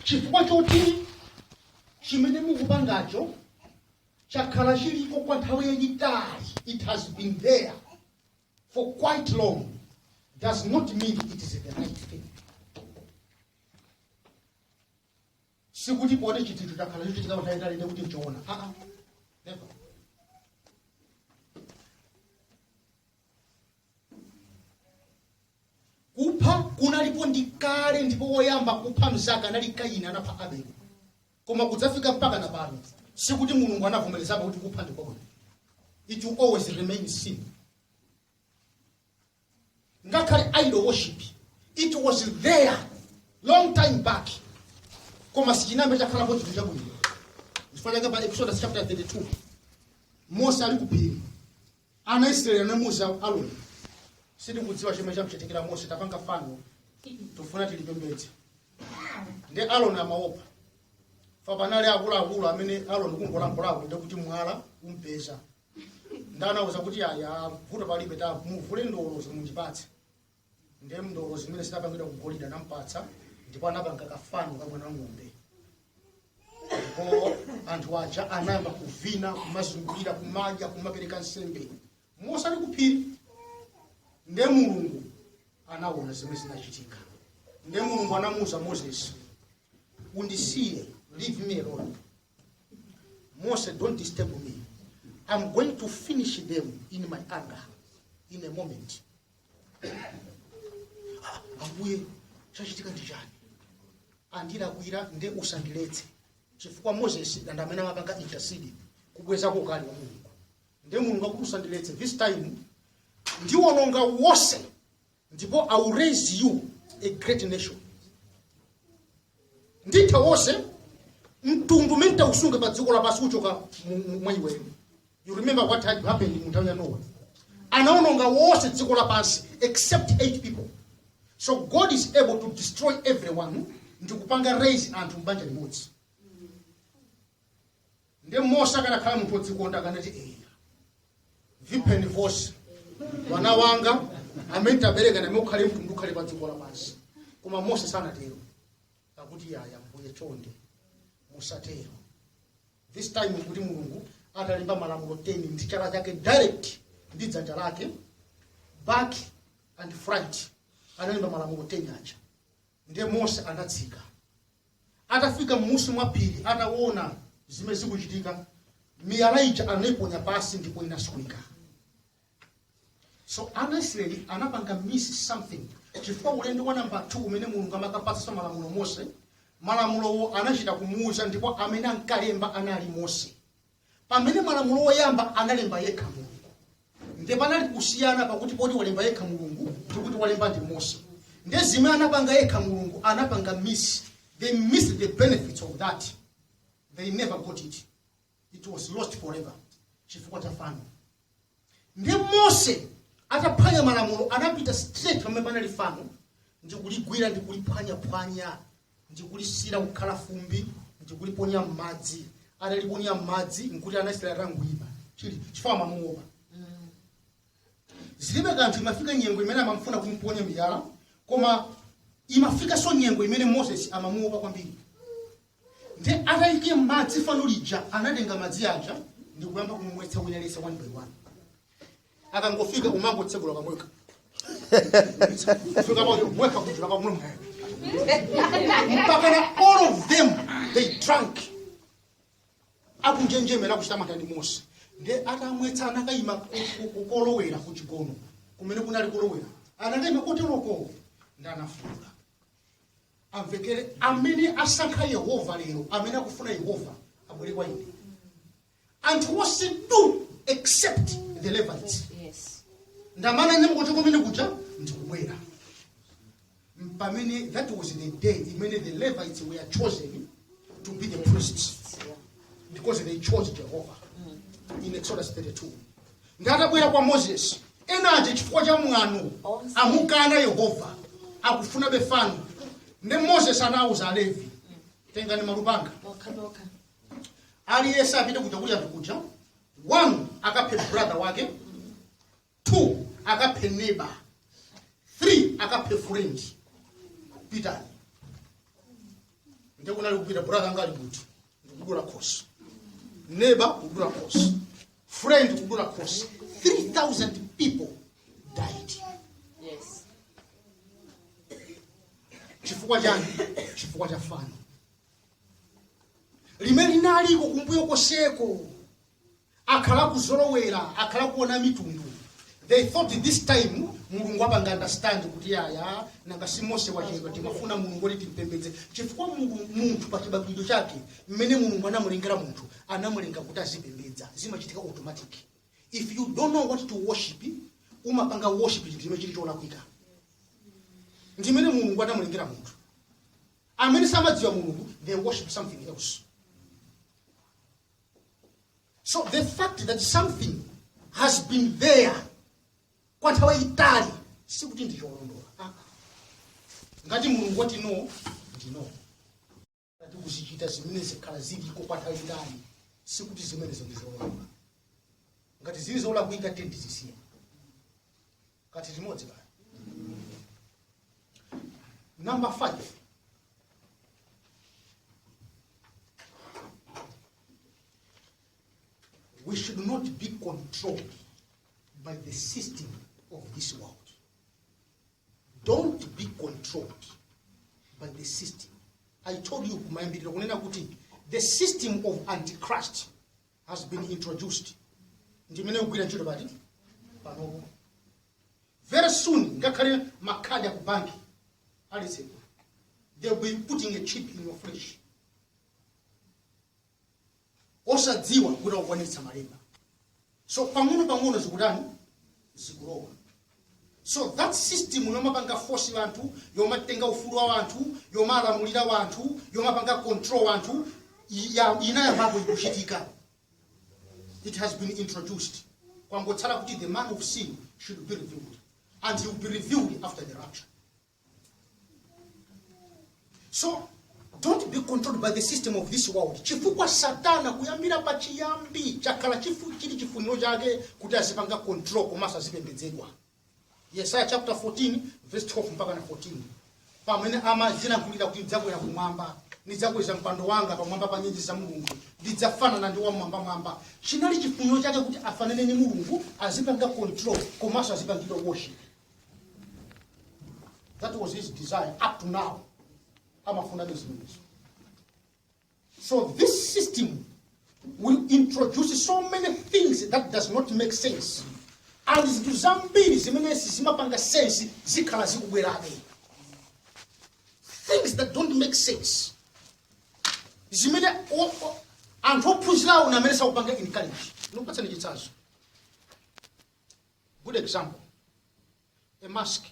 chifukwa choti chimene mukupangacho chakhala chiliko kwa nthawi yayitali it has been there for quite long does not mean it is the right thing sikuti poti chinthu chakhala chikuchitika nthawi yayitali nde kuti nchoona aa never kupha kunalipo ndi kale ndipo woyamba kupha mzake anali kaini anapha abeli koma kudzafika mpaka na pano sikuti mulungu anavomerezapo kuti kupha ndi kwabwino it will always remain sin ngakhale idol worship it was there long time back koma sichinambe chakhalapo chinthu chabwino chifukwa chake pa exodus chapter 32 mose ali ku phiri Ana Israeli anamuza Aroni, sitikudziwa chimene chamchitikira Mose, tipange fano tufuna tilipembedze. Nde Aroni amaopa fa panali akuluakulu amene Aroni kungolankhulako ndi kuti mwala umpeza. Nde anauza kuti aya vuto palibe tamuvule ndolo zi mundipatse. ndiye ndolo zimene zinapangidwa ku golide anampatsa ndipo anapanga kafano ka mwana ng'ombe ndipo anthu aja anayamba kuvina kumazungulira kumadya kumapereka nsembe mose ali ku phiri ndiye mulungu anaona zimene zinachitika ndiye mulungu anamuwuza moses undisiye leave me alone mose don't disturb me i'm going to finish them in my anger in a moment Ambuye chachitika ndi chani andilakwira nde usandiletse chifukwa moses ndi amene amapanga intercede kubwezako ukali wa mulungu nde mulungu akuti usandiletse this time ndiwononga wonse ndipo i will raise you a great nation nditha wonse mtundu umene tausunge pa dziko lapansi uchoka mu- mu- mwa iweyo you remember what had happened mu nthawi ya nowa anaononga wonse dziko lapansi except eight people so god is able to destroy everyone ndi kupanga raise anthu mbanja limodzi nde mose akanakhala munthu odzikonda akanati eya apheni wose wana wanga amene tabereka nawo ukhale mtundu ukhale pa dziko lapansi koma mose sanatero akuti iyayi ambuye chonde musatero this time kuti mulungu atalemba malamulo 10 ndi chala chake direct ndi dzanja lake back and front analemba malamulo 10 aja ndiye mose anatsika atafika m'musi mwa phiri ataona zimene zikuchitika miyala ija anaiponya pansi ndipo inasweka so ana israeli anapanga miss something chifukwa ulendo wa namba 2 umene mulungu amakapatsa malamulo mose malamulowo anachita kumuuza ndipo amene ankalemba anali mose pamene malamulo oyamba analemba yekha mulungu nde panali kusiyana pakuti poti walemba yekha mulungu ndikuti walemba ndi mose nde zimene anapanga yekha mulungu anapanga miss they missed the benefits of that they never got it it was lost forever chifukwa cha fano nde mose ataphwanya malamulo anapita straight pamene panali fano ndikuligwira ndikuliphwanyaphwanya ndikulisira kukhala fumbi ndikuliponya m'madzi ataliponya m'madzi nkuti ana israeli atangoima chilili chifukwa amamuopa zilibe kanthu imafika nyengo imene amamfuna kumponya miyala koma imafikanso nyengo imene moses amamuopa kwambiri nde ataika m'madzi fano lija anatenga madzi aja ndi kuyamba kumumwetsa wina aliyense one by one akangofika umangotsekula kamwa fika payo mweka kuchula kamulo mwayo mpakana all of them they drank akunjenjemera kuchita mantha ndi mose nde atamwetsa anakayima ku- ku- kukolowera ku chigono kumene kunali kolowera anakayima koteroko ndi anafuula amvekere amene asankha yehova lero amene akufuna yehova abwere kwa ine anthu onse duu except the levites Yes. ndi amene ananyamuka kuchoka kumene kuja ndikubwera pamene that was the day imene the levites were chosen to be the priests because they chose jehovah in exodus 32 nde atabwera kwa moses ena aja chifukwa cha mwano amukana yehova akufunabe fano nde moses anawuza alevi tengani malupanga aliyense apite kuja kuli anthu kuja one akaphe brother wake two akaphe neighbor three akaphe friend pitani nde kunali kupita brother anga ali kuti ndikudula khosi neba kudula khosi friend kudula khosi 3000 people died Yes. chifukwa chani chifukwa cha fano limene linaliko kumbuyo koseko akhala akuzolowera akhala akuona mitundu they thought this time mulungu apanga understand kuti yaya nanga si mose wachedwa timafuna mulungu woti timpembedze chifukwa Mulungu- munthu pa chibadwidwe chake mmene mulungu anamulengera munthu anamulenga kuti azipembedza zimachitika automatic if you don't know what to worship umapanga worship chinthu chimene chili cholakwika ndimene mulungu anamulengera munthu amene samadziwa mulungu they worship something else so the fact that something has been there kwa nthawi itali sikuti ndi cholondola Ah. ngati mulungu wati no ndi no ngati tikuzichita zimenezi zakhala ziliko kwa nthawi itali sikuti zimenezo ndi zolondola ngati zili zolakwika tiyeni tizisiye kati limodzi kaya number 5 we should not be controlled by the system of this world don't be controlled by the system i told you kumayambiriro kunena kuti the system of antichrist has been introduced ndimene ikugwira ntchito pati panopo very soon ngakhale makhadi akubanki alizekwa they will be putting a chip in your flesh osadziwa kuti akukwanitsa malemba so pang'ono pang'ono zikutani zikulowa so that system yomapanga force wanthu yomatenga ufulu wa wanthu yomalamulira wanthu yomapanga control wanthu ya- inayambapo kuchitika it has been introduced kwangotsala kuti the man of sin should be revealed and he will be revealed after the rapture so don't be controlled by the system of this world chifukwa satana kuyambira pa chiyambi chakhala chifu- chili chifuniro chake kuti azipanga control komanso azipembedzedwa yesaya chapter 14 verse 12 mpaka na 14 pamene amadziyankhulira kuti ndidzakwera kumwamba ndidzakweza mpando wanga pamwamba pa nyenyezi za mulungu ndidzafanana ndi wamwambamwamba chinali chifuniro chake kuti afanane ndi mulungu azipanga control komanso azipangidwa worship That was his desire up to now. Amafuna zimenezo. So this system will introduce so many things that does not make sense. And zinthu zambiri zimene sizimapanga sense zikhala zikubwerabe. Things that don't make sense. Zimene o- o- anthu ophunzirawo ndi amene azikupanga encourage. Ndikupatsani chitsanzo. good example a mask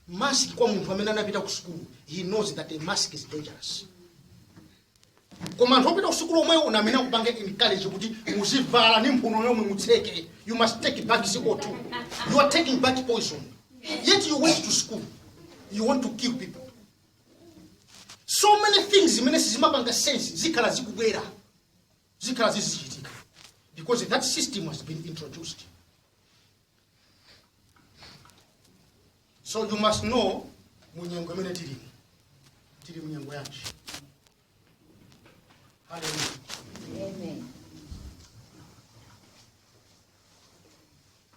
mask kwa munthu amene anapita ku sukulu he knows that a mask is dangerous koma anthu opita kusukulu omwewo ndi amene akupanga encourage kuti muzivala ndi mphuno yomwe mutseke you must take back co2 you are taking back poison yet you went to school you want to kill people so many things zimene sizimapanga sense zikhala zikubwera zikhala zizichitika because that system has been introduced so you must know munyengo imene tilimo tili munyengo yanji haleluya Amen.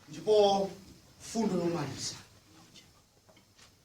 ndipo mfundo yomaliza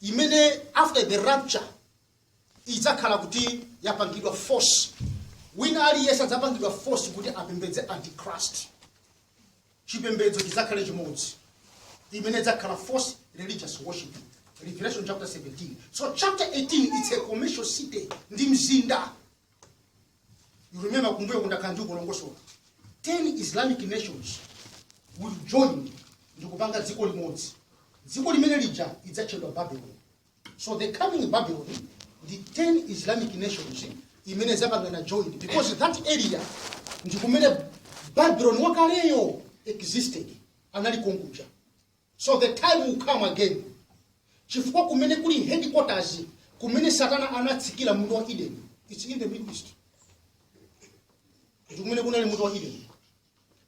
imene after the rapture idzakhala kuti yapangidwa force wina aliyense adzapangidwa force kuti apembedze antichrist chipembedzo chidzakhale chimodzi imene idzakhala false religious worship revelation chapter 17 so chapter 18 it's a commercial city ndi mzinda You remember kumbuyo ndakhala ndikulongosola 10 islamic nations will join ndi kupanga dziko limodzi dziko limene lija idzatchedwa babylon so the coming babylon ndi 10 islamic nations imene zapangana join because that area ndi kumene babylon wakaleyo existed anali konkuja So the time will come again chifukwa kumene kuli headquarters kumene satana anatsikira munda wa eden its in the middle east ndi kumene kunali munda wa eden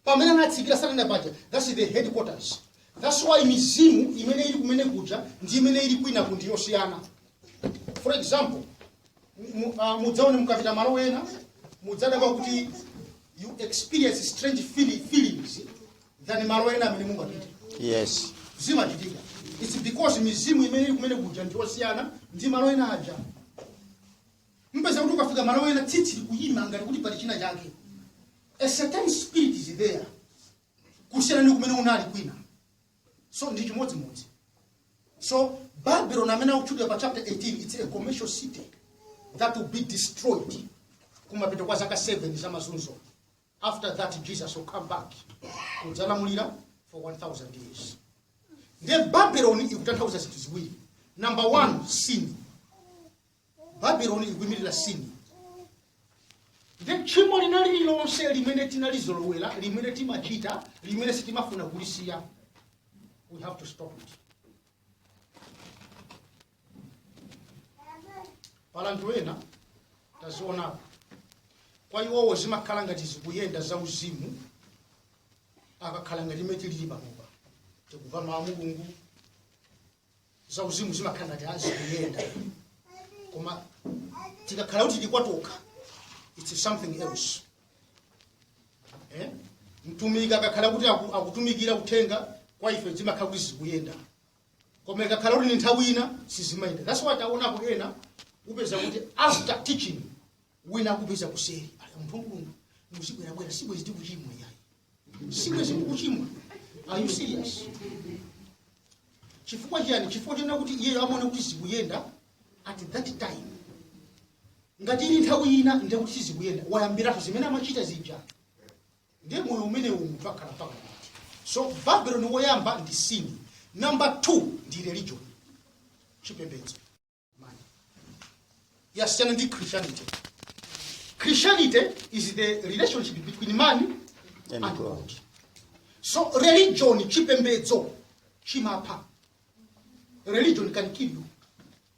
pamene anatsikira satana paja thats the headquarters thats why mizimu imene ili kumene kuja ndi imene ili kwinaku ndi yosiyana for example mu- ah, mudzaone mukapita malo ena mudzadabwa kuti you experience strange feeli- feelings than malo ena amene mungapite Yes. zimachitika its because mizimu imene ili kumene kuja ndi yosiyana ndi malo ena aja mpeza kuti ukafika malo ena tsitsi likuyima ngati kuti pali china chake a certain spirit is there kusiyana ndi kumene unali kwina so ndi chimodzimodzi so babylon amene akutchulidwa pa chapter 18 its a commercial city that will be destroyed kumapeto kwa zaka 7 za mazunzo after that jesus will come back kudzalamulira for 1000 years ndiye babeloni ikutanthauza zinthu ziwiri number one sin babeloni ikuyimirira sin ndiye tchimo lina lililonse limene tinalizolowera limene timachita limene sitimafuna kulisiya we have to stop it pali anthu ena tadzionapo kwa iwowo zimakhala ngati zikuyenda za uzimu akakhala ngati imene tilili panopa tikumva mawu a mulungu za uzimu zimakhala ngati zikuyenda koma tikakhala kuti tili kwa tokha it's something else eh? mtumiki akakhala kuti aku- akutumikira uthenga kwa ife zimakhala kuti zikuyenda koma ikakhala kuti ni nthawi ina sizimayenda that's why taonapo ena upeza kuti after teaching wina akupeza kuseli ali munthu wakulungu muzibwerabwera sibwezi tikuchimwa yayi sibwezi tikuchimwa are you serious chifukwa chiyani chifukwa chonena kuti iyeyo amaona kuti zikuyenda at that time ngati ili nthawi ina ndekuti sizikuyenda wayambira zimene amachita zija ndiye moyo umenewu munthu akhala mpaka kuti so Babylon woyamba ndi sin number 2 ndi religion chipembedzo yasiyana ndi christianity christianity is the relationship between man and God so religion chipembedzo chimapha religion can kill you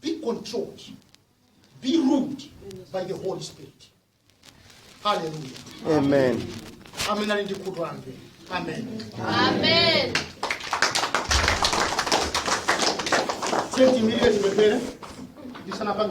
be controlled, be ruled by the Holy Spirit. Hallelujah. Amen. Amen. Ali ndi khutu amve. Amen. Amen. Senti milile tumepele. Ndisana pange